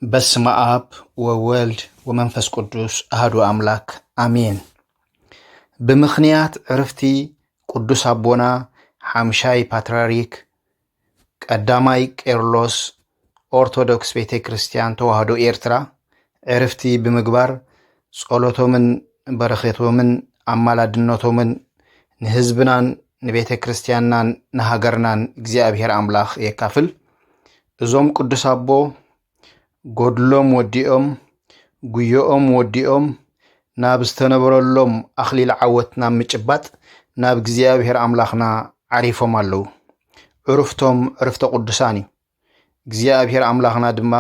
በስመ አብ ወወልድ ወመንፈስ ቅዱስ አህዱ አምላክ አሜን። ብምኽንያት ዕርፍቲ ቅዱስ አቦና ሓምሻይ ፓትርያርክ ቀዳማይ ቄርሎስ ኦርቶዶክስ ቤተ ክርስቲያን ተዋህዶ ኤርትራ ዕርፍቲ ብምግባር ጸሎቶምን በረኼቶምን ኣማላድነቶምን ንህዝብናን ንቤተ ክርስቲያንናን ንሃገርናን እግዚኣብሔር ኣምላኽ የካፍል። እዞም ቅዱስ ኣቦ ጎድሎም ወዲኦም ጉዮኦም ወዲኦም ናብ ዝተነበረሎም ኣኽሊል ዓወት ናብ ምጭባጥ ናብ እግዚኣብሔር ኣምላኽና ዓሪፎም ኣለዉ። ዕርፍቶም ዕርፍተ ቅዱሳን እዩ። እግዚኣብሔር ኣምላኽና ድማ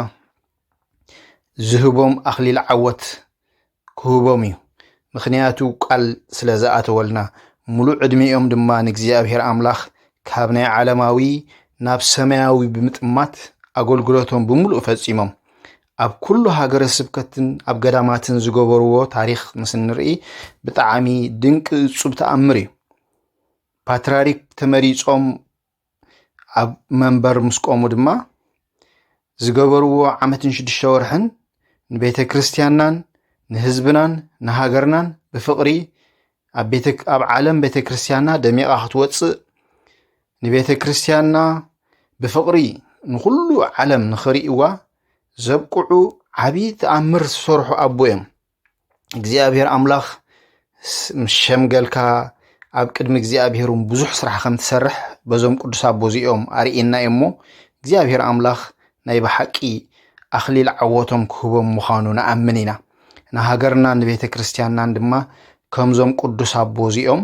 ዝህቦም ኣኽሊል ዓወት ክህቦም እዩ ምክንያቱ ቃል ስለ ዝኣተወልና ሙሉእ ዕድሜኦም ድማ ንእግዚኣብሔር ኣምላኽ ካብ ናይ ዓለማዊ ናብ ሰማያዊ ብምጥማት ኣገልግሎቶም ብምሉእ ፈጺሞም ኣብ ኩሉ ሃገረ ስብከትን ኣብ ገዳማትን ዝገበርዎ ታሪክ ምስ እንርኢ ብጣዕሚ ድንቂ እጹብ ተኣምር እዩ ፓትራሪክ ተመሪጾም ኣብ መንበር ምስ ቆሙ ድማ ዝገበርዎ ዓመትን ሽዱሽተ ወርሕን ንቤተ ክርስቲያንናን ንህዝብናን ንሃገርናን ብፍቕሪ ኣብ ቤተ ኣብ ዓለም ቤተ ክርስቲያንና ደሚቓ ክትወፅእ ንቤተ ክርስቲያንና ብፍቕሪ ንኹሉ ዓለም ንኽርእይዋ ዘብቅዑ ዓብዪ ተኣምር ዝሰርሑ ኣቦ እዮም። እግዚኣብሔር ኣምላኽ ምስ ሸምገልካ ኣብ ቅድሚ እግዚኣብሔር እውን ብዙሕ ስራሕ ከም ትሰርሕ በዞም ቅዱስ ኣቦ እዚኦም ኣርእየና እዩ እሞ እግዚኣብሔር ኣምላኽ ናይ ብሓቂ ኣኽሊል ዓወቶም ክህቦም ምዃኑ ንኣምን ኢና ንሃገርናን ንቤተ ክርስቲያንናን ድማ ከምዞም ቅዱስ ኣቦ እዚኦም